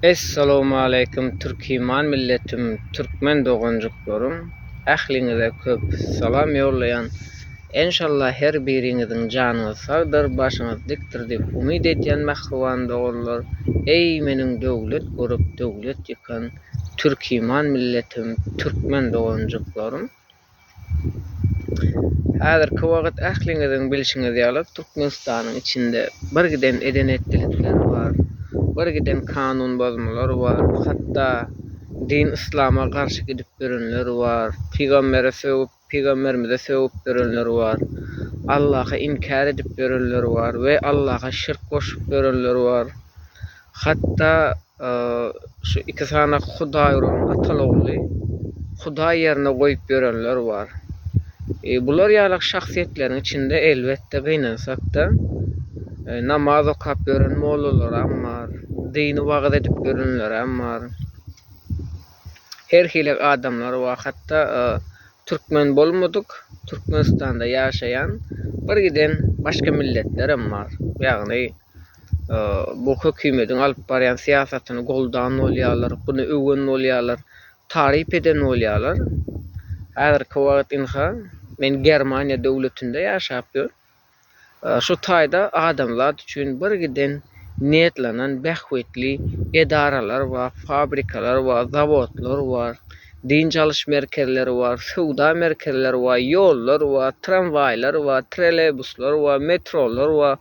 Essalamualeýkum Türkiman milletim Türkmen doganjyklarym ähliňize köp Salam ýollaýan Enşalla her biriňiziň janyňyz sagdyr başyňyz dikdir diýip umyt edýän mähriban doganlar eý meniň döwlet görüp döwlet ýykan Türkiman milletim Türkmen doganjyklarym Häzirki wagt ähliňiziň bilşiňiz ýaly, Türkmenistanyň içinde birgiden eden-etdilikler bar, birgiden kanun bozmalar bar, hatda din yslama garşy gidip ýörenler bar, pygambere sögüp, pygamberimize sögüp ýörenler bar, Allahy inkär edip ýörenler bar we Allaha şirk goşup ýörenler bar. Hatda Şu iki sany Hudaý uran Atalogly Hudaý ýerine goýup ýörenler bar. E, bular ýaly şahsyýetleriň içinde elbetde gynansakda e, namaz okap ýören mollalaram bar, dini wagyz edip ýörenlerem bar. Her hili adamlar bar. Hatda e, türkmen bolmadyk, Türkmenistanda ýaşaýan bir giden başga milletlerem bar. Ýagny bu hökümediň alyp barýan syýasatyny goldan bolýarlar, buny öwen bolýarlar, taryp eden bolýarlar. Häzirki wagt ynha, men Germaniýa döwletinde ýaşap ýörün. Şu taýda adamzat üçin birgiden niýetlenen bähbitli edaralar bar, fabrikalar bar, zawodlar bar, dynç alyş merkezleri bar, söwda merkezleri bar, ýollar bar, tramwaýlar bar, trolleýbuslar bar, metrolar bar,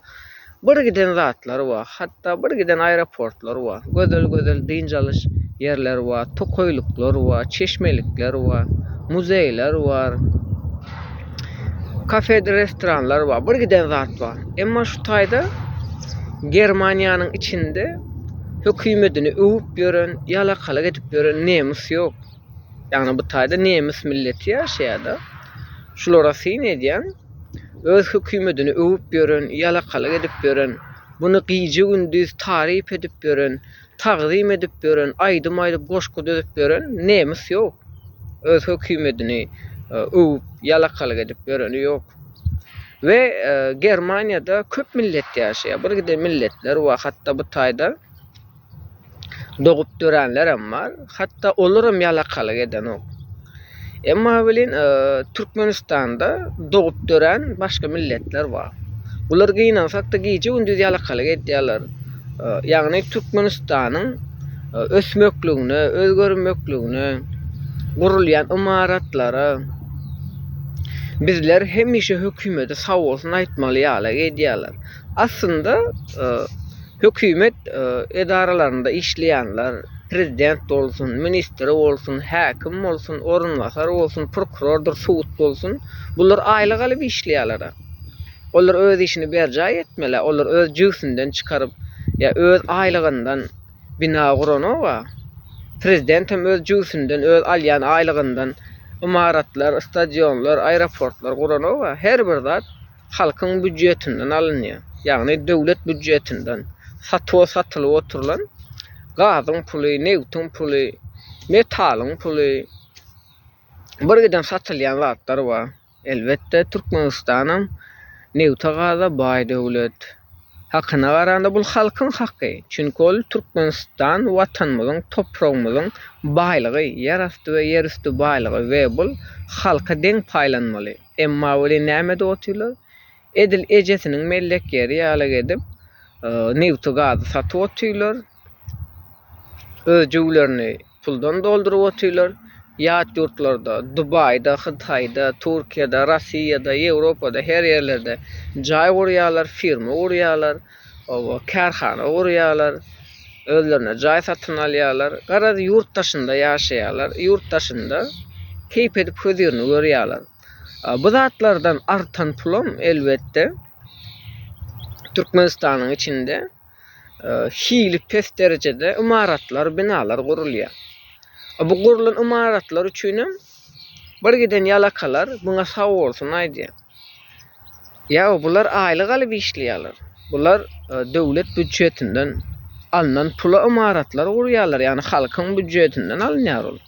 Bir giden zatlary bar. Hatda bir giden aeroportlary bar. Gözel gözel dynç alyş ýerleri bar. Tokaýlyklar bar. Çeşmelikler bar. Muzeýler bar. Kafedir restoranlar bar. Bir giden zat bar. Emma şu taýda Germaniýanyň içinde hökümetini öwüp ýören, ýalakalyk edip ýören nemis ýok. Ýagny bu taýda nemis milleti ýaşaýar-da. Şulara syn edýän Öz hökümetini öwüp ýören, ýalakalyk edip ýören, muny gije-gündiz taryp edip ýören, tagzym edip ýören, aýdym aýdyp, goşgy düzüp ýören nemis ýok. Öz hökümetini öwüp, ýalakalyk edip ýöreni ýok. We Germaniýada köp millet ýaşaýar. Birgiden milletler bar hatda bu taýda. Dogup döränlerem bar, hatda olaram ýalakalyk edenok. Emma welin Türkmenistanda dogup dörän başga milletler bar. Bular gynansakda gije-gündiz ýalakalyk edýärler. Ýagny Türkmenistanyň ösmekligine, özgermekligine, gurulýan ymaratlara bizler hemişe hökümete sag bolsun aýtmaly ýaly edýärler. Aslynda Hökümet edaralarynda işleýänler, prezident bolsun, ministr bolsun, häkim bolsun, orunbasar bolsun, prokurordyr, sud bolsun, bular aýlyk alyp işleýärler-ä. Olar öz işini berjaý etmeli-ä, olar öz jübüsinden çykaryp, ýa öz aýlygyndan bina guranok-a. Prezident hem öz jübüsinden, öz alýan aýlygyndan ymaratlar, stadionlar, aeroportlar guranok-a. Her bir zat halkyň býudjetinden alynýar, ýagny döwlet býudjetinden satuwa satylyp oturylan gazyň puly, nebtiň puly, metalyň puly, birgiden satylýan zatlar bar. Elbetde, Türkmenistanam nebta-gaza baý döwlet. Hakyna garanda, bul halkyň haky, çünki ol Türkmenistan Watanymyzyň, topragymyzyň baýlygy, ýerasty we ýerüsti baýlygy we bul halka deň paýlanmaly. Emma welin näme-de otyrlar? Edil ejesiniň mellek ýeri ýaly gedip, nebti-gazy satyp otyrlar. Öz jübülerini puldan dolduryp otyrlar. Ýat ýurtlarda, Dubaýda, Hytaýda, Türkiýede, Rossiýada, Ýewropada, her ýerlerde jaý gurýarlar, firma gurýarlar. Oba, kärhana gurýarlar, özlerine jaý satyn alýarlar. Garaz, ýurt daşynda ýaşaýarlar, ýurt daşynda keýp edip hözirini görýärler. Bu zatlardan artan pulam, elbetde, Türkmenistanyň içinde hili pes derejede ymaratlar, binalar gurulýar. Bu gurulan ymaratlar üçinem bir giden ýalakalar muňa sag bolsun aýdýar. Ýa-o, bular aýlyk alyp işleýärler. Bular döwlet býujetinden alnan pula ymaratlar gurýarlar, ýagny halkyň býujetinden alynýar ol.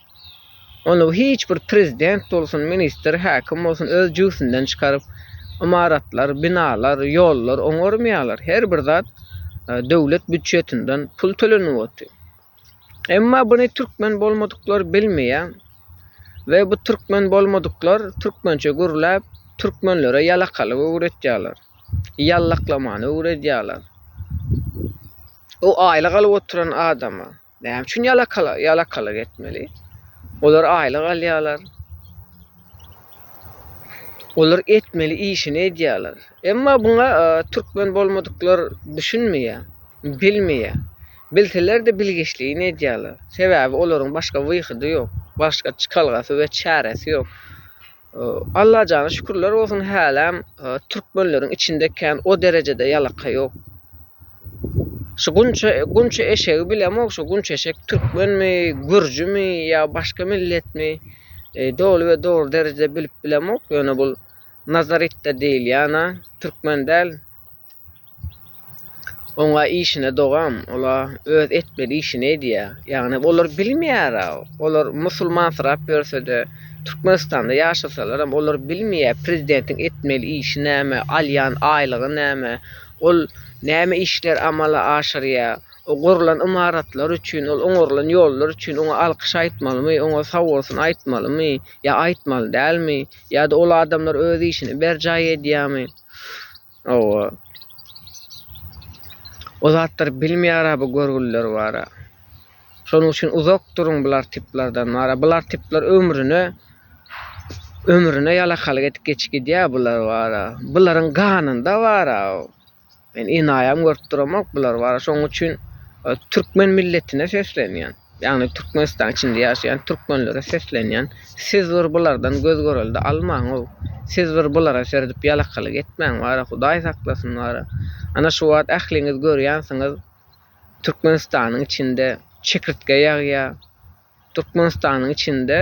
Ony hiç bir prezident bolsun, ministr, häkim bolsun öz jübüsinden çykaryp ymaratlar, binalar, ýollar oňarmaýarlar. Her bir zat döwlet býujetinden pul tölenip otyr. Emma buny türkmen bolmadyklar bilmeýär we bu türkmen bolmadyklar türkmençe gürläp, türkmenlere ýalakalyk öwretýärler. Ýallaklamany öwredýärler. O aýlyk alyp oturan adama näme üçin ýalakalyk ýalakalyk etmeli? Olar aýlyk alýarlar. Olar etmeli işini edýärler. Emma buňa e, türkmen bolmadyklar düşünmeýär, bilmeýär. Bilseler-de bilgiçligini edýärler. Sebäbi olaryň başga wyhydy ýok. Başga çykalgasy we çäresi ýok. Allajana şükürler bolsun häläm türkmenleriň içinde kän o derejede ýalaka ýok. Şu gunça gunça eşegi bilemok şu gunça eşek türkmenmi, gürjümi ýa başga milletmi? E, doly we dogry derejede bilip bilemok. Ýöne bul Nazaritde diýilýän-ä türkmen däl. Oňa işine dogam, ola öz etmeli işini edýär. Ýagny olar bilmeýär, olar musulmansyrap ýörse-de, Türkmenistanda ýaşasalaram olar bilmeýär prezidentiň etmeli işi näme, alýan aýlygy näme, ol näme işler amala aşyrýar, o gurlan ymaratlar üçin, ol oňarylan ýollar üçin oňa alkyş aýtmalymy, oňa sag bolsun aýtmalymy, ýa aýtmaly dälmi, ýa-da ol adamlar öz işini berjaý edýärmi? Hawa. O zatlary bilmeýära bu görgüliler bara. Şonuň üçin uzak duruň bular tiplerden bara. Bular tipler ömrüne ömrüne ýalakalyk edip geçip gidýär bular bara. Bularyň ganynda bara. Men enaýam görüp duramok bular bara. Şonuň üçin türkmen milletine seslenýän. Ýagny Türkmenistanyň içinde ýaşaýan türkmenlere seslenýän siz bir bulardan göz görelde almaňow siz bir bulara serdip ýalakalyk etmäň wara hudaý saklasyn wara ana şu wagt ähliňiz görýänsiňiz Türkmenistanyň içinde çekirtge ýagýa Türkmenistanyň içinde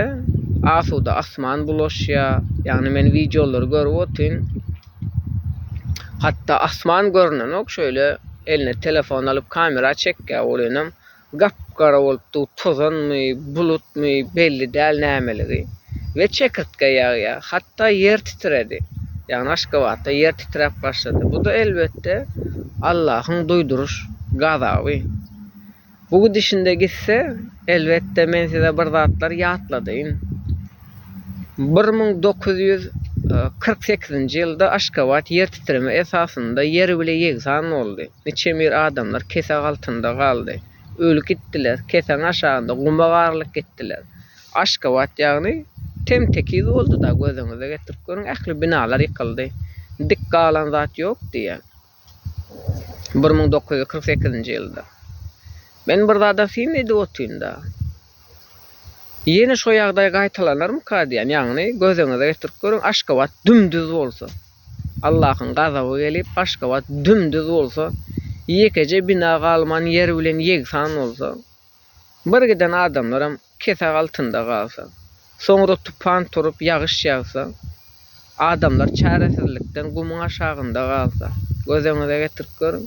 asuda asman bulaşýa ýagny men wideolary görüp otyryn hatda asman görnenok şeýle eline telefon alyp kamera çekýa olinam Gap-gara bolup dur, tozanmy, bulutmy, belli däl nämeligi we çekirtge ýagýar. Hatda ýer titredi. Ýagny Aşgabatda ýer titräp başlady. Bu-da elbetde Allahyň duýduryş gazaby. Bu gidişinde gitse, elbetde men size bir zatlar ýatladýyn. Bir müň dokuz ýüz kyrk sekizinji ýylda Aşgabat ýertitreme esasynda ýer bile ýegsan boldy. Niçemir adamlar kesag altynda galdy. Öli gitdiler, kesagyň aşagynda guma garylyp gitdiler. Aşgabat ýagny tem-tekiz boldy-da, gözüňize getirip görüň, ähli binalar ýykyldy. Dik galan zat ýok diýýär. Bir müň dokuz ýüz kyrk sekizinji ýylda. Men bir zada syn edip otyryn-da. Ýene şo ýagdaý gaýtalanarmyka diýýän. Ýagny, gözüňize getirip görüň, Aşgabat düm-düz bolsa. Allahyň gazaby gelip, Aşgabat düm-düz bolsa, ýekeje bina galman ýer bilen ýegsan bolsa. Bir giden adamlaram kesek altynda galsa, soňra tupan turup ýagyş ýagsa, adamlar çäresizlikden gumuň aşagynda galsa, gözeňize getirip görüň.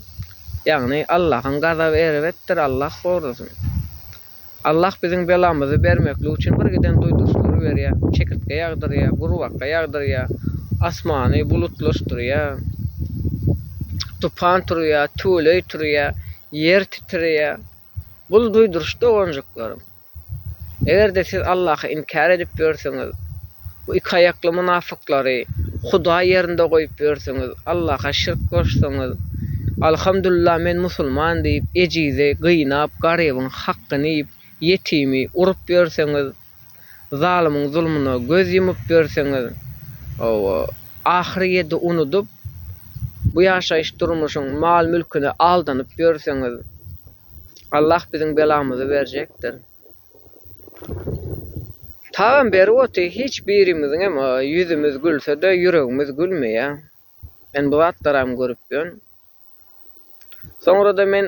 Ýagny Allahyň gazaby erbetdir, Allah gorasyn. Allah biziň belamyzy bermeklik üçin bir giden duýduryşlary berýär, çekirtge ýagdyrýar, gurbaka ýagdyrýar, asmany bulutlaşdyrýar, tupan turýar, tüweleý turýar, ýer titreýär. Gul duýduryş doganjyklaryň! Eger-de siz Allahy inkär edip ýörseňiz, bu iki aýakly mynafyklary Hudaý ýerinde goýup ýörseňiz, Allaha şirk goşsaňyz, Alhamdulillah men musulman diýip, ejizi gynap, garybyň hakgyny iýip, ýetimi urup ýörseňiz, zalymyň zulmuna göz ýumup ýörseňiz, ahyry ýedi unudyp, bu ýaşaýyş durmuşyň mal-mülküne aldanyp ýörseňiz, Allah biziň belamyzy berjekdir. Tagam berip otyr, hiç birimiziň hem ýüzümiz gülse-de, ýüregimiz gülmeýär. Men bu zatlaram görüp ýörün. Soňra-da men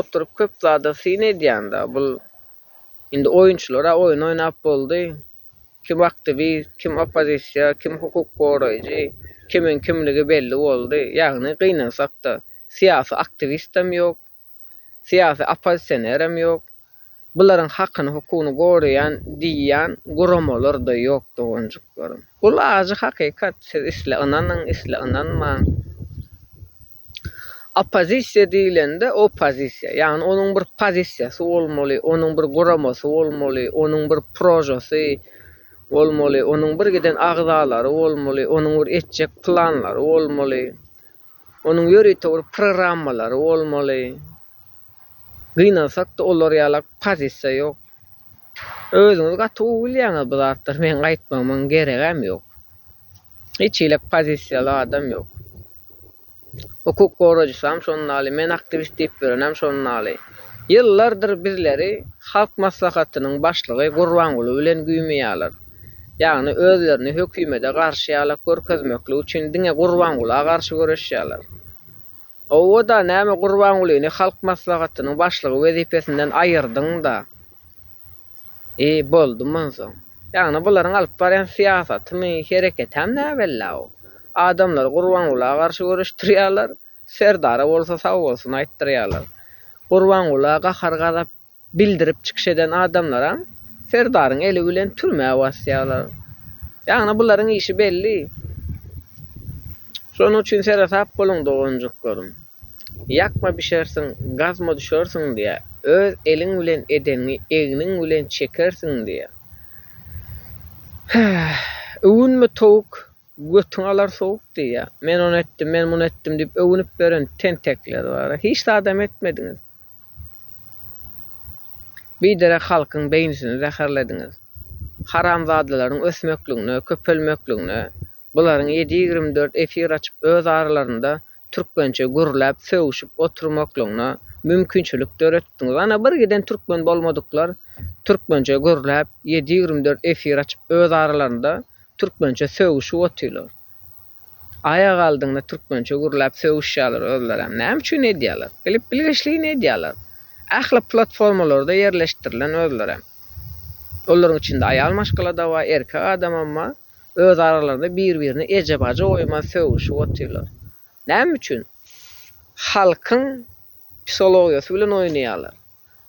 oturyp köp zada syn edýän-de, bul indi oýunçylar-a oýun oýnap boldy, kim aktiwist, kim oppozisiýa, kim hukuk goraýjy, kimiň kimligi belli boldy, ýagny gynansak-da, syýasy aktiwist hem ýok, syýasy oppozisionerem ýok, bularyň hakyny hukugyny goraýan diýýän guramalar-da ýok doganjyklarym. Bul ajy hakykat, siz isle ynanyň, isle ynanmaň. Oppozisiýa diýlende oppozisiýa, ýagny onuň bir pozisiýasy bolmaly, onuň bir guramasy bolmaly, onuň bir prožasy bolmaly, onuň birgiden agzalary bolmaly, onuň bir etjek planlary bolmaly. Onuň ýörite bir programmalary bolmaly. Gynansak-da olar ýalak pozisiýa ýok. Özüňiz gaty gowy bilýäňiz bu zatlary, meň aýtmagymyň geregem ýok. Hiç hili pozisiýaly adam ýok. Hukuk goraýjysam şonuň ýaly, men aktiwist diýip ýörenem şonuň ýaly. Ýyllardyr bizleri Halk Maslahatynyň başlygy Gurbanguly bilen güýmeýärler. Ýagny özlerini hökümede garşy ýala görkezmeklik üçin diňe Gurbangula garşy göreşýärler. Owo-da näme Gurbangulyny Halk Maslahatynyň başlygy wezipesinden aýyrdyň-da? I, boldy monsoň. Ýagny bularyň alyp barýan syýasatymy, hereketem näbella-ow. Adamlary Gurbangula garşy göreşdirýärler, Serdara bolsa sag bolsun aýtdyrýarlar. Gurbangula gahar-gazap bildirip çykyş eden adamlaram Serdaryň eli bilen türmä basýarlar. Ýagny bularyň işi belli. Şonuň üçin seresap boluň doganjyklarym. Ýakma bişersiň, gazma düşersiň diýýär. Öz eliň bilen edeniňi egniň bilen çekersiň diýýär. Heh, öwünme towuk Götüň alar sowuk diýýär. Men ony etdim, men muny etdim diýip öwünip ýören tentekler bar-a. Hiç zadam etmediňiz. Biderek halkyň beýnisini zäherlediňiz. Haramzadalaryň ösmekligine, köpelmekligine bularyň ýedi ýigrimi dört efir açyp öz aralarynda türkmençe gürläp, sögüşip oturmaklygyna mümkinçilik döretdiňiz. Ana, bir giden türkmen bolmadyklar türkmençe gürläp, ýedi ýigrimi dört efir açyp, öz aralarynda türkmençe sögüşip otyrlar. Aýak aldygyna türkmençe gürläp sögüşýärler özlerem. Näme üçin edýärler? Bilip bilgeşligine edýärler. Ähli platformalarda ýerleşdirilen özlerem. Olaryň içinde aýal maşgala-da bar, erkek adamam bar. öz aralarynda bir-birine eje-bajy goýman sögüşip otyrlar. Näme üçin? Halkyň psihologiýasy bilen oýnaýarlar.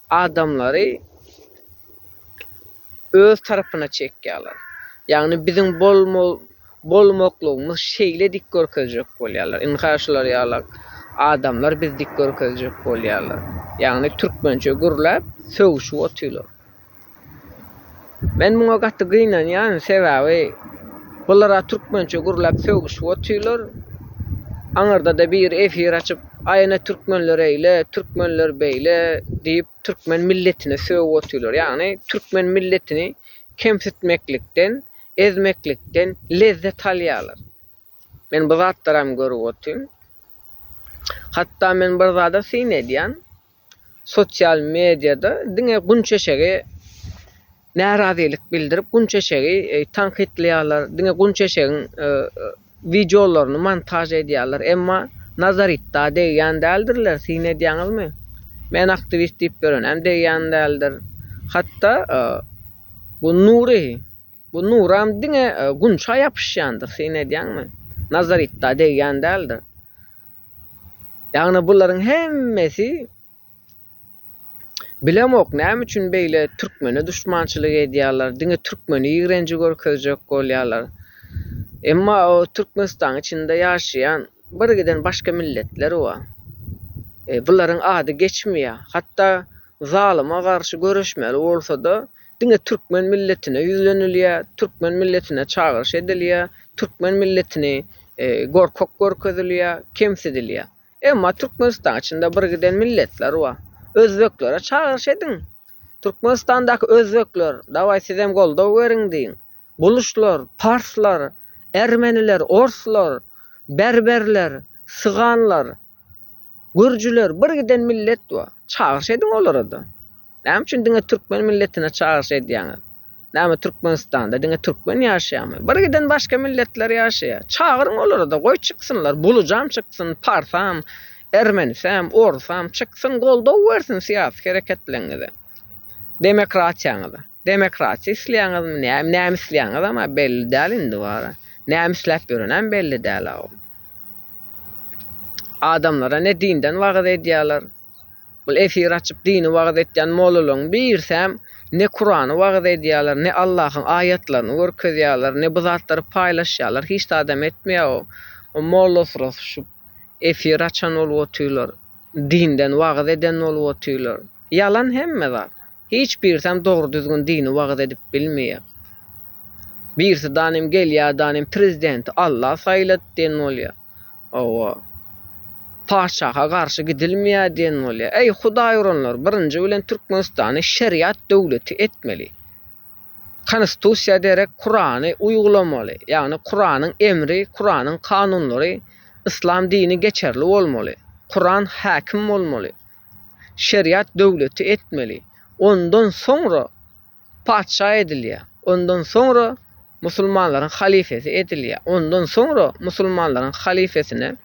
Adamlary öz tarapyna çekýärler. Ýagny biziň bolmaklygymyz şeýle dik görkezjek bolýarlar. Indi ha şular ýaly adamlar bizi dik görkezjek bolýarlar. Ýagny türkmençe gürläp sögüşip otyrlar. Men muňa gaty gynanýan sebäbi bulara türkmençe gürläp sögüşip otyrlar. Aňyrdada biri efir açyp aýene türkmenler eýle, türkmenler beýle diýip türkmen milletine sögüp otyrlar. Ýagny türkmen milletini kemsitmeklikden, ezmeklikden lezzet alýarlar. Men bu zatlaram görüp otyryn. Hatda men bir zada syn edýän, sosial mediýada diňe Gunçeşegi närazylyk bildirip, Gunçeşegi tankytlaýarlar, diňe Gunçeşegiň wideolaryny montaž edýärler, emma Nazaritda degýän däldirler, syn edýäňizmi? Men aktiwist diýip ýörenem degýän däldir. Hatda bu Nury. Bu nuram diňe gunça ýapyşýandyr, syn edýäňmi? Nazaritda degýän däldir. Ýagny bularyň hemmesi Bilemok näme üçin beýle türkmene duşmançylyk edýärler, diňe türkmeni ýigrenji görkezjek bolýarlar. Emma o Türkmenistanyň içinde ýaşaýan birgiden başga milletler bar. Bularyň ady geçmeýär. Hatda Zalyma garşy göreşmeli bolsa-da, diňe türkmen milletine ýüzlenilýär, türkmen milletine çagyryş edilýär, türkmen milletini gorkak görkezilýär, kemsidilýär. Emma Türkmenistanyň içinde birgiden milletler bar. Özbeklere çagyryş ediň. Türkmenistandaky özbekler, dawaý sizem goldaw beriň diýiň. Buluşlar, parslar, ermeniler, orslar, berberler, syganlar. Gürjüler bir giden millet bu. Çagyryş ediň olara-da. Näme üçin diňe türkmen milletine çagyryş edýäňiz? Näme Türkmenistanda diňe türkmen ýaşaýarmy? Bir giden başga milletler ýaşaýar. Çagyryň olary-da, goý çyksynlar, bulujam çyksyn, parsam, ermenisem, orsam çyksyn, goldaw bersin syýasy hereketleriňize, demokratiýaňyza. Demokratiýa isleýäňizmi, näme, näme isleýäňizem-ä belli däl indi wara. Näme isläp ýörenem belli däl-aw. Adamlara ne dinden wagyz edýärler. Bul efir açyp dini wagyz etýän mollalaryň birsem ne kurany wagyz edýärler ne Allahyň aýatlaryny görkezýärler ne bu zatlary paýlaşýarlar hiç zadam etmeýär o o molla syrasy şu efir açan bolup otyrlar dinden wagyz eden bolup otyrlar ýalan hemme zat Hiç birsem dogry düzgün dini wagyz edip bilmeýä. Birsidanem gelýädanem prezidenti Allah saýlady diýen bolýa. Hawa. Patyşaha garşy gidilmeýä diýen bolýa. Eý Hudaý uranlar birinji bilen Türkmenistany şeriat döwleti etmeli. Konistusiýa derek Kurany uýgulamaly. Ýagny Kuranyň emri, Kuranyň kanunlary Yslam dini geçerli bolmaly. Kuran häkim bolmaly. şeriat döwleti etmeli. Ondan soňra patyşa edilýär. Ondan soňra musulmanlaryň halyfesi edilýär. Ondan soňra musulmanlaryň halyfesine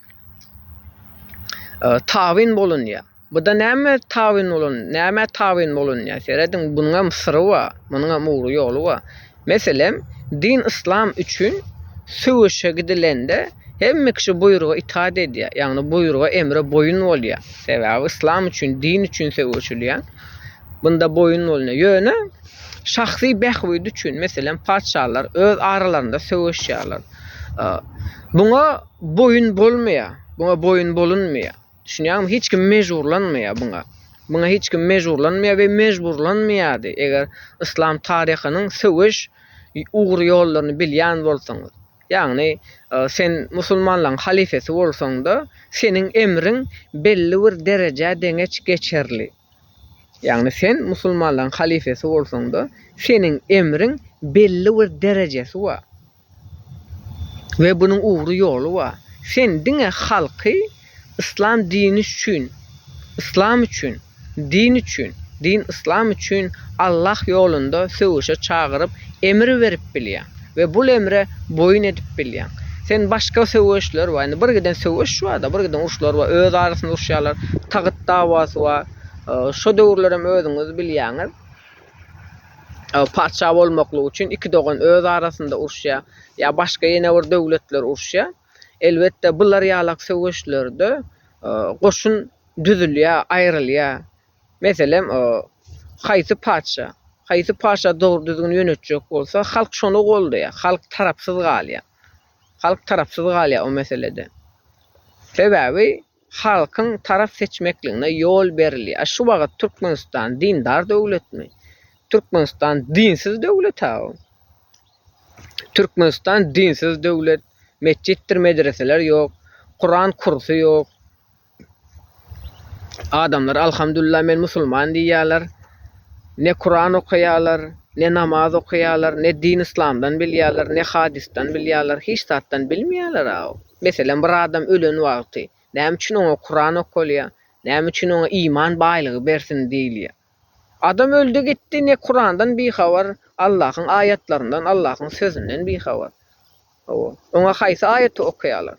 tabyn bolunýar. Buda näme tabyn bolun, nämä tabyn bolunýar? Serediň, bunuňam syry bar, munuňam ugry ýoly bar. Meselem, din yslam üçin söweşe gidilende hemme kişi buýruga itaat edýär, ýagny buýruga, emre boýun bolýar. Sebäbi yslam üçin, din üçin söweşilýär. Bunda boýun bolunýar. Ýöne şahsy bähbidi üçin, meselem, patyşalar öz aralarynda söweşýärler. Muňa boýun bolmaýar, muňa boýun bolunmaýar. Düşünýäňmi? Hiç kim mejburlanmaýar muňa. Muňa hiç kim mejburlanmaýar we mejburlanmaýardy. Eger yslam taryhynyň söweş ugry ýollaryny bilýän bolsaňyz. Ýagny, e, sen musulmanlaryň halyfasy bolsaň-da, seniň emriň belli bir derejä deňeç geçerli. Ýagny sen musulmanlaryň halyfasy bolsaň-da, seniň emriň belli bir derejesi bar. We bunuň ugry ýoly bar. Sen diňe halky Yslam dini üçin, Yslam üçin, din üçin, din Yslam üçin Allah ýolunda söweşe çagyryp emir berip bilýäň we bul emre boýun edip bilýäň. Sen başga söweşler bar, indi bir giden söweş barda, bir giden uruşlar bar, öz arasynda uruşýarlar, tagyt dawasy bar, şo döwürlerem özüňiz bilýäňiz. Patyşa bolmaklyk üçin iki dogan öz arasynda uruşýar. Ýa başga ýene bir döwletler uruşýar. Elbetde bular ýalak söweşlerde goşun düzülýär, aýrylýar. Meselem, haýsy patyşa, haýsy patyşa dogry düzgün ýönetjek bolsa, halk şony goldaýar. Halk tarapsyz galýar. Halk tarapsyz galýar o meselede. Sebäbi Halkyň tarap seçmekligine ýol berilýär. A şu wagyt Türkmenistan dindar döwletmi? Türkmenistan dinsiz döwlet-ä bu. Türkmenistan dinsiz döwlet. Metjitdir medreseler ýok. Kuran kursy ýok. Adamlar alhamdulillah men musulman diýýärler. Ne Kuran okaýarlar, ne namaz okaýarlar, ne din yslamdan bilýärler, ne hadysdan bilýärler, hiç zatdan bilmeýärler-ä. Meselem, bir adam ölen wagty, näme üçin oňa Kuran okalýar, näme üçin oňa iman baýlygy bersin diýilýär? Adam öldi gitdi, ne Kurandan bihabar, Allahyň aýatlaryndan, Allahyň sözünden bihabar. Hawa, oňa haýsy aýaty okaýarlar?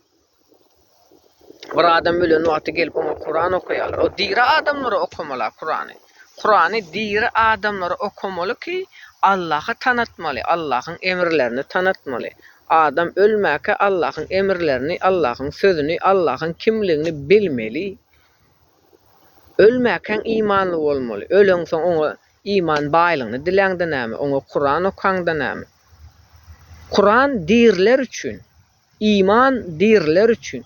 Bir adam ölen wagty gelip oňa Kuran okaýarlar. O diri adamlara okamaly-a Kurany. Kurany diri adamlara okamaly ki Allahy tanatmaly Allahyň emirlerini tanatmaly adam ölmäkä Allahyň emirlerini Allahyň sözüni Allahyň kimligini bilmeli ölmäkäň imanly bolmaly öleňsoň oňa iman baýlygyny diläňde näme oňa Kuran okaňda näme Kuran diriler üçin Iman diriler üçin.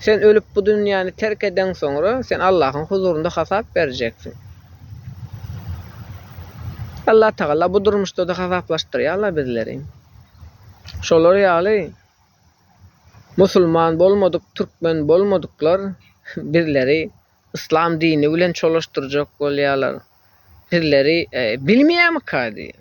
Sen ölüp bu dünýäni terk edeň soňra sen Allahyň huzurynda hasap berjeksiň. Allah Tagala bu durmuşda-da hasaplaşdyrýarlar bizleri. Şolar ýaly musulman bolmadyk, türkmen bolmadyklar bizleri yslam dini bilen çolaşdyrjak bolýarlar. Sizleri bilmeýärmika diýýär.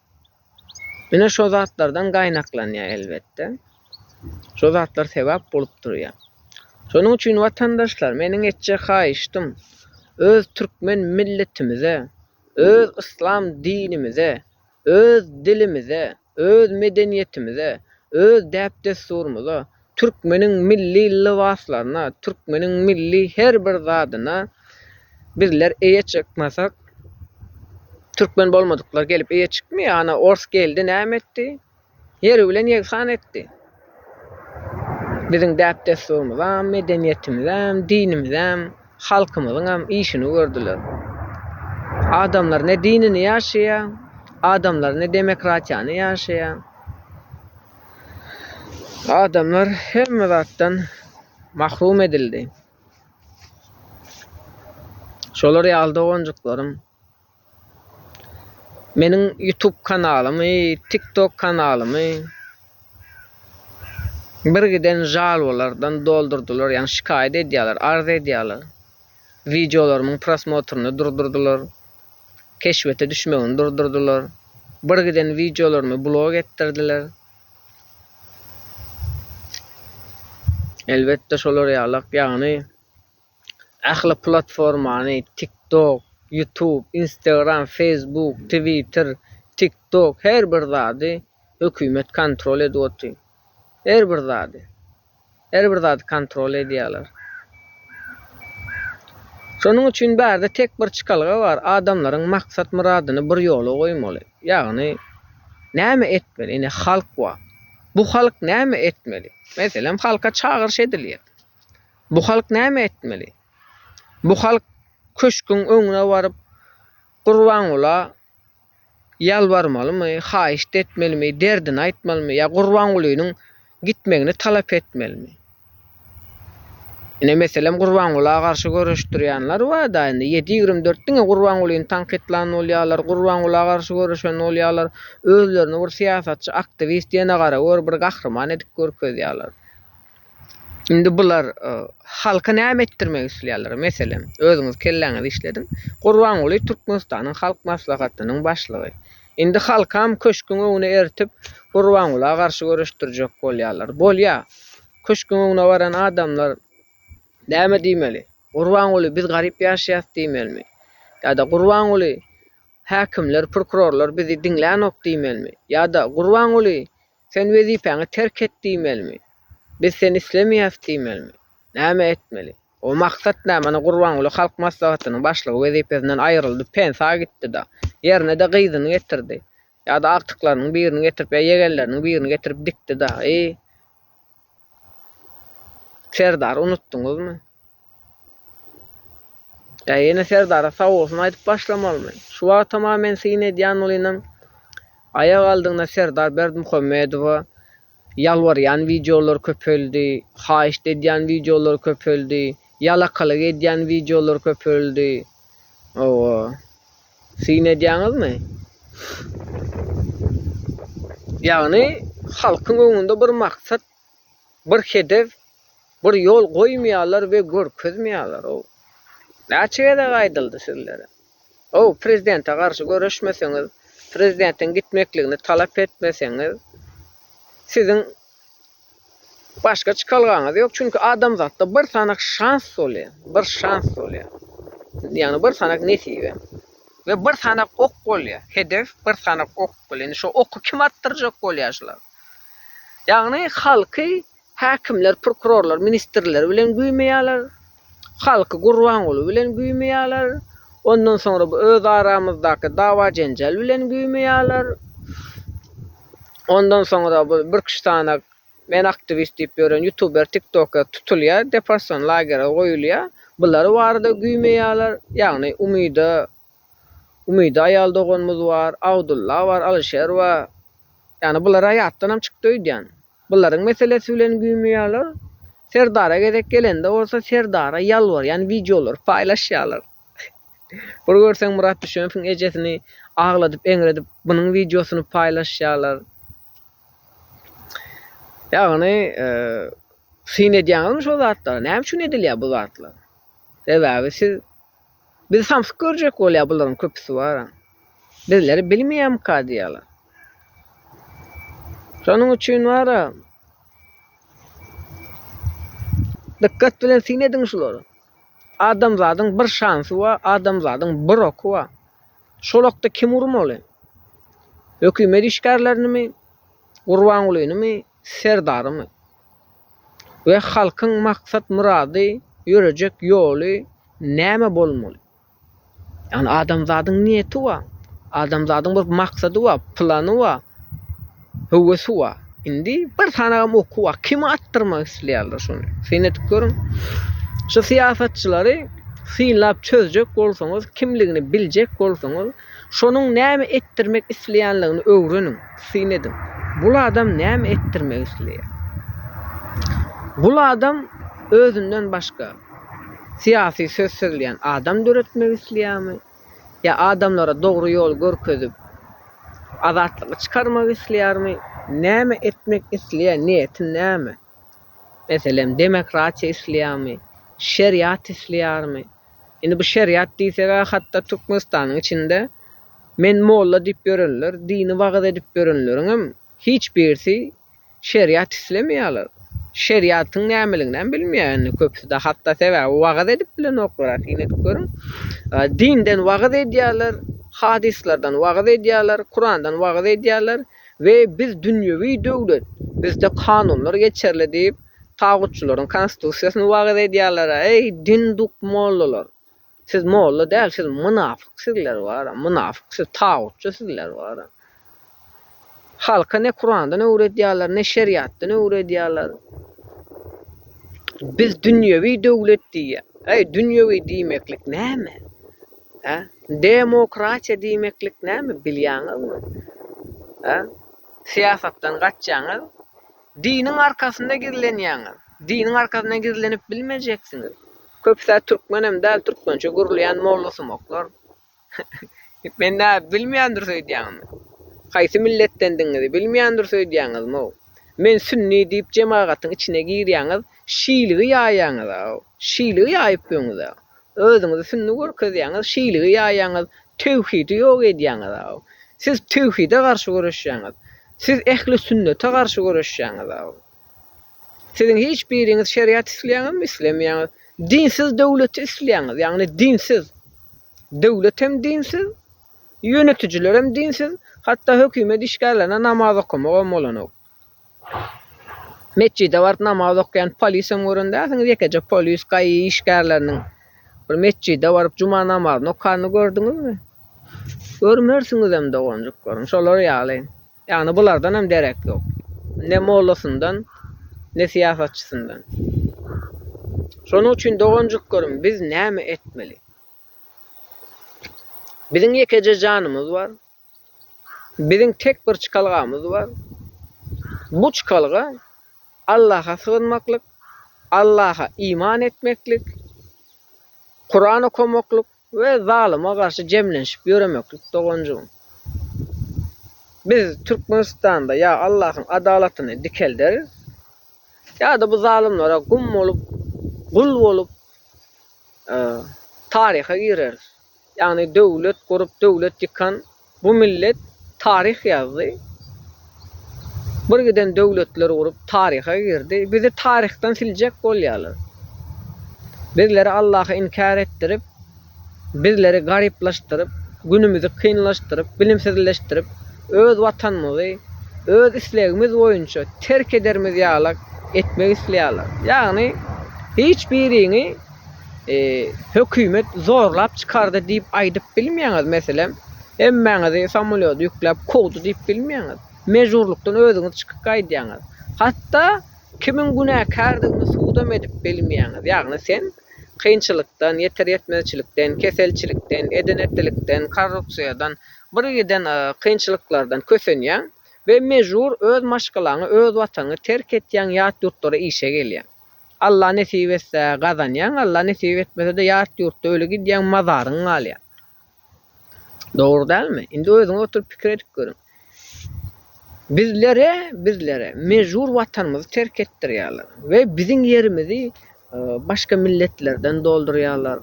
Ine şo zatlardan gaýnaklanýar elbetde. Şo zatlar sebäp bolup durýar. Şonuň üçin watandaşlar meniň etjek haýyştym öz türkmen milletimize, öz yslam dinimize, öz dilimize, öz medeniýetimize, öz däp-dessurymyza, Türkmeniň milli lybaslaryna, türkmeniň milli her bir zadyna bizler eýe çykmasak, türkmen bolmadyklar gelip eýe çykmaýar. Ana, ors geldi, näme etdi? Ýer bilen ýegsan etdi. Biziň däp-dessurymyzam, medeniýetimizem, dinimizem, halkymyzyňam işini gördüler. Adamlar ne dinini ýaşaýar, adamlar ne demokratiýany ýaşaýar. Adamlar hemme zatdan mahrum edildi. Şolar ýaly doganjyklaryň meniň YouTube kanalymy, TikTok kanalymy bir giden žalwalardan doldurdylar, ýagny şikaýat edýärler, arz edýärler. Wideolarymyň prosmotryny durdurdylar. keşbete düşmegini durdurdylar. Bir giden wideolarymy blog etdirdiler. Elbetde şolar ýalak ýagny ähli platformany TikTok, YouTube, Instagram, Facebook, Twitter, TikTok her bir zady hökümet kontrol edip otyr. Her bir zady. Her bir zady kontrol edýärler. Şonuň üçin bärde tek bir çykalga bar, adamlaryň maksat-myradyny bir ýola goýmaly. Ýagny, näme etmeli? Ine, halk bar. Bu halk näme etmeli? Meselem, halka çagyryş edilýär. Bu halk näme etmeli? Bu halk köşgüň öňüne baryp, Gurbangula ýalbarmalymy, haýyşt etmelimi, derdini aýtmalymy ýa Gurbangulynyň gitmegini talap etmelimi? Ine, meselem, Gurbangula garşy göreşdirýänler bar-da, indi ýedi ýigrimi dört diňe Gurbangulyny tankytlan bolýarlar, Gurbangula garşy göreşen bolýarlar, özlerini bir syýasatçy, aktiwist, ýene gara gör, bir gahryman edip görkezýärler. Indi bular halka näme etdirmek isleýärler, meselem, özüňiz kelläňizi işlediň. Gurbanguly Türkmenistanyň Halk Maslahatynyň başlygy. Indi halkam köşküň öňüne eritip, Gurbangula garşy göreşdirjek bolýarlar. Bolýar. Köşküň öňüne baran adamlar näme diýmeli? Gurbanguly biz garyp ýaşaýas diýmelimi? Ýa-da Gurbanguly häkimler, prokurorlar bizi diňlänok diýmelimi? Ýa-da Gurbanguly Sen wezipäňi terk et diýmelimi? Biz seni islemeýäs diýmelimi? Näme etmeli? O maksat nä? Mana Gurbanguly halk maslahatynyň başlygy wezipesinden aýryldy, pensa gitdi-da. Ýerine-de gyzyny getirdi. Ýa-da agtyklarynyň birini getirip ýa ýegenleriniň birini getirip dikdi-da. Eý! Serdary unutdyňyzmy? Ýa ýene Serdara sag bolsun aýdyp başlamalymy? Şu wagtam-a men syn edýän bolynam, aýak aldygyna Serdar Berdimuhamedowa ýalbarýan wideolar köpeldi, haýyşt edýän wideolar köpeldi, ýalakalyk edýän wideolar köpeldi. Hawa. Syn edýäňizmi? Ýagny halkyň öňünde bir maksat, bir hedef, bir ýol goýmaýarlar we görkezmeýärler ow. Näçe gezek aýdyldy sizlere. Ow, prezidente garşy göreşmeseňiz, prezidentiň gitmekligini talap etmeseňiz, siziň Başga çykalgaňyz ýok, çünki adamzatda bir sanak şans bolýar, bir şans bolýar. Ýagny bir sanak nesibe. We bir sanak ok bolýar. Hedef bir sanak ok bolýar. Indi şo oky kim atdyrjak bolýar şular. Ýagny halky häkimler, prokurorlar, ministrler bilen güýmeýärler. Halky Gurbanguly bilen güýmeýärler. Ondan soňra bu öz aramyzdaky dawa-jenjel bilen güýmeýärler. Ondan soňra bu bir kişi sanak men aktiwist diýip ýören ýutuber, tiktoker tutulýar, deporsion lagere goýulýar. Bular barada güýmeýärler. Ýagny Umyda Umyda aýal doganymyz bar, Abdulla bar, Alyşer bar. Ýagny bular aýatdan hem çykdy öýdýän. Bularyň meselesi bilen güýmüýärler. Serdara gezek gelende bolsa Serdara ýalbarýan wideolary paýlaşýarlar. Bir görseň Myrat Düşenowyň ejesini agladyp eňredip bunuň wideosyny paýlaşýarlar. Ýagny syn edýäňizmi şo zatlara? Näme üçin edilýär bu zatlar? Sebäbi siz Bizi samsyk görjek bolýar, bularyň köpüsi bar. Bizleri bilmeýärmika diýýärler. Şonuň üçin bar. Dykgat bilen syn ediň şulara. Adamzadyň bir şansy bar, adamzadyň bir oky bar. Şol okda kimi urmaly? Hökümet işgärlerinimi? Gurbangulynymy? Serdarymyz we halkyň maksat murady ýörejek ýoly näme bolmaly? Ýagny adamzadyň niýeti wa, adamzadyň bir maksady wa, plany wa, höwesi wa. Indi bir sanagam oky wa, kimi atdyrmak isleýärler şony? Syn edip görüň. Şu syýasatçylary synlap çözjek bolsaňyz, kimligini biljek bolsaňyz, Şonuň näme etdirmek isleýänligini öwreniň, syn ediň. Gul adam näme etdirmek isleýär? Gul adam özünden başga syýasy söz sözleýän adam döretmek isleýärmi? Ýa adamlara dogry ýoly görkezip, azatlyga çykarmak isleýärmi? Näme etmek isleýär, niýeti näme? Meselem, demokratiýa isleýärmi, şeriat isleýärmi? Indi bu şeriat diýseg-ä hatda Türkmenistanyň içinde men molla diýip ýörenler, dini wagyz edip ýörenleriňem hiç birisi şeriat islemeýärler. Şeriatyň nämeliginem bilmeýär indi köpüsi-de hatda sebäbi wagyz edip bilenoklar-a syn edip görüň. Dinden wagyz edýärler, hadyslardan wagyz edýärler, Kurandan wagyz edýärler. we biz dünýewi döwlet, bizde kanunlar geçerli diýip, tagutçylaryň konstitusiýasyny wagyz edýärler-ä, eý, dinduk mollalar! Siz molla däl, siz mynafyk sizler bara, mynafyk, siz tagutçy sizler bara. Halka ne Kurandan öwredýärler, ne şeriatdan öwredýärler. Biz dünýewi döwlet diýýär. Eý, dünýewi diýmeklik näme? Hä? Demokratiýa diýmeklik näme bilýäňizmi? Hä? Syýasatdan gaçýaňyz, diniň arkasynda gizlenýäňiz. Diniň arkasynda gizlenip bilmejeksiňiz. Köpüsä türkmenem däl, türkmençe gürleýän mollasumaklar. Men nä, bilmeýändiris öýdýäňizmi? Haýsy milletdendigiňizi bilmeýändiris öýdýäňizmi-ow? Men sünni diýip jemagatyň içine girýäňiz, şiligi ýaýýaňyz-a-ow. Şiligi ýaýyp ýöňüz-ä. Özüňizi sünnü görkezýäňiz, şiligi ýaýýaňyz, tewhidi ýok edýäňiz aw. Siz tewhide garşy göreşýäňiz. Siz ehli sünnete garşy göreşýäňiz aw. Siziň hiç biriňiz şeriat isleýäňizmi? Islemeýäňiz. Dinsiz döwleti isleýäňiz, ýagny dinsiz. Döwlet hem dinsiz, ýönetijiler hem dinsiz, hatda hökümet işgärlerine namaz okamagam bolanok. Metjide baryp namaz okaýan polisem gören dälsiňiz, ýekeje polis gaýy işgärleriniň bir metjide baryp juma namazyny okanyny gördüňizmi? Görmersiňizem doganjyklaryň, şolar ýaly. Ýagny bulardan hem derek ýok. Ne mollasyndan, ne syýasatçysyndan. Şonuň üçin doganjyklarym biz näme etmeli? Biziň ýekeje janymyz bar. Biziň tek bir çykalgamyz bar. Bu çykalga Allaha sygynmaklyk, Allaha iman etmeklik, Kuran okamaklyk we zalyma garşy jemlenşip ýöremeklik doganjygym. Biz Türkmenistanda ýa Allahyň adalatyny dikelderis, ýa-da bu zalymlara gum bolup, gul bolup taryha gireris. Ýagny döwlet gurup döwlet ýykan bu millet taryh ýazdy. Birgiden döwletler gurup taryha girdi. Bizi taryhdan siljek bolýarlar. Bizleri Allaha inkär etdirip, bizleri garyplaşdyryp, günümizi kynlaşdyryp, bilimsizleşdirip, öz watanymyzy öz islegimiz boýunça terk edermiz ýalak etmek isleýärler. Ýagny hiç biriňi hökümet zorlap çykardy diýip aýdyp bilmeýäňiz meselem hemmäňizi samolýot ýükläp kowdy diýip bilmeýäňiz mejburlykdan özüňiz çykyp gaýdýaňyz hatda kimiň günäkärdigini sudam edip bilmeýäňiz ýagny sen kynçylykdan ýeter ýetmezçilikden keselçilikden eden etdilikden korrupsiýadan bir giden kynçylyklardan kösenýäň we mejbur öz maşgalaňy öz watanyňy terk etýäň ýat ýurtlara işe gelýäň. Alla nesip etse gazanýaň Alla nesip etmesede ýat ýurtda öli gidýäň mazaryň galýa. Dogry dälmi? Indi özüňiz oturyp pikir edip görüň. Bizlere bizlere mejbur watanymyzy terk etdirýäler we biziň ýerimizi başga milletlerden doldurýalar.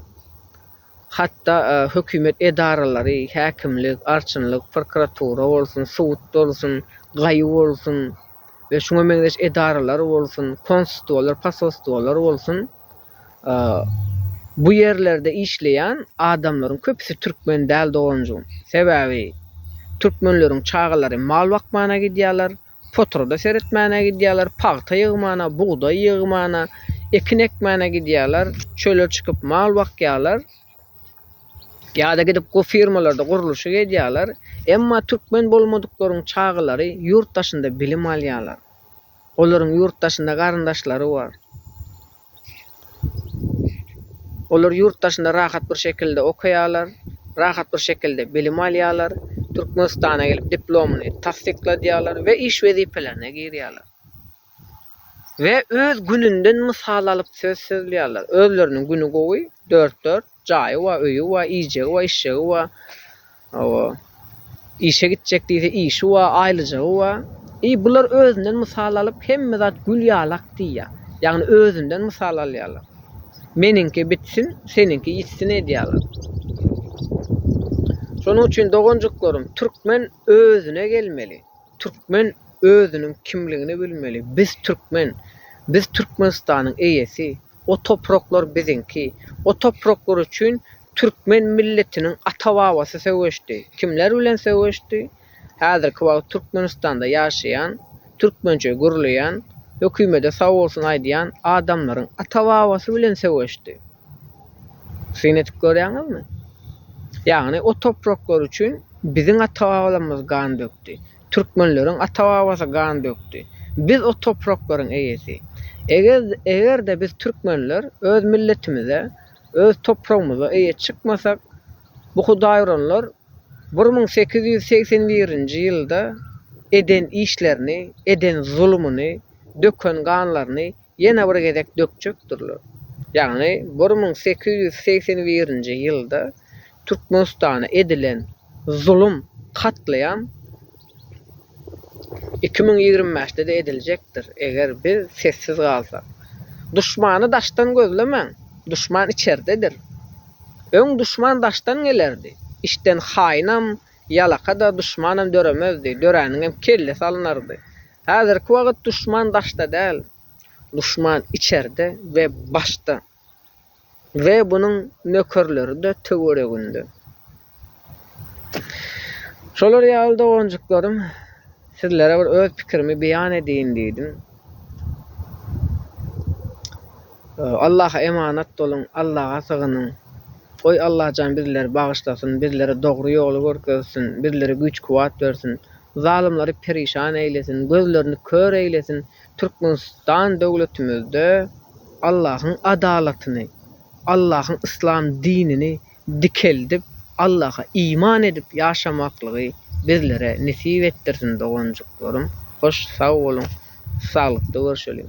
Hatda hökümet edaralary, häkimlik, arçynlyk, prokuratura bolsun, sud bolsun, gaýu bolsun we şuňa meňzeş edaralar bolsun, konstitwalar, posostwalar bolsun, bu ýerlerde işleýän adamlaryň köpüsi türkmen däl doganjygym. Sebäbi türkmenleriň çagalary mal bakmana gidýärler, Potroda seretmäne gidýärler, pagta ýygmana, bugdaý ýygmana, ekin ekmäne gidýärler, çöle çykyp mal bakýarlar. Ýa-da gidip go firmalarda gurluşyk edýärler. Emma türkmen bolmadyklaryň çagalary ýurt daşynda bilim alýarlar. Olaryň ýurt daşynda garyndaşlary bar. Olar ýurt daşynda rahat bir şekilde okaýarlar, rahat bir şekilde bilim alýarlar, Türkmenistana gelip diplomyny tassykladýarlar we iş wezipelerine girýärler. We öz gününden mysal alyp söz sözleýärler. Özleriniň güni gowy, dört-dört. Jaýy bar, öýi bar, iýjegi bar, içjegi bar. Hawa. Işe gitjek diýse, işi bar, aýlyjagy bar. I bular özünden mysal alyp, hemme zat gül ýalak diýýär. Ýagny özünden mysal alýarlar. Meniňki bitsin, seniňki ýitsin edýärler. Şonuň üçin doganjyklarym, türkmen özüne gelmeli. Türkmen özüniň kimligini bilmeli. Biz türkmen. Biz Türkmenistanyň eýesi. O topraklar biziňki. O topraklar üçin türkmen milletiniň ata-babasy söweşdi. Kimler bilen söweşdi? Häzirki wagt Türkmenistanda ýaşaýan, türkmençe gürleýän, hökümede sag bolsun aýdýan adamlaryň ata-babasy bilen söweşdi. Syn edip görýäňizmi? Ýagny o topraklar üçin biziň ata-babalarymyz gan dökdi. Türkmenleriň ata-babasy gan dökdi. Biz o topraklaryň eýesi. Eger-de biz türkmenler öz milletimize, öz topragymyza eýe çykmasak, bu hudaýuranlar bir müň sekiz ýüz segsen birinji ýylda eden işlerini, eden zulumyny, döken ganlaryny Ýene bir gezek dökjekdirler. Ýagny bir müň sekiz ýüz segsen birinji ýylda Türkmenistana edilen zulum, katlaýam iki müň ýigrimi bäşde-de ediljekdir, eger biz sessiz galsak. Duşmany daşdan gözlemäň, duşman içerdedir. Öň duşman daşdan gelerdi, içden haýynam, Ýalaka-da duşmanam döremezdi, döräniňem kellesi alynardy. Häzirki wagt duşman daşda däl, duşman içerde we başda we bunuň nökerleri-de töwereginde. Şolar ýaly doganjyklarym, sizlere bir öz pikirimi beýan edeýin diýdim. Allaha emanat boluň, Allaha sygynyň. Goý Allajan bizleri bagyşlasyn bizlere dogry ýoly görkezsin bizlere güýç kuwat bersin zalymlary perişan eýlesin gözlerini kör eýlesin Türkmenistan döwletimizde Allahyň adalatyny Allahyň yslam dinini dikeldip Allaha iman edip ýaşamaklygy bizlere nesip etdirsin doganjyklarym hoş sag boluň saglykda görşeliň.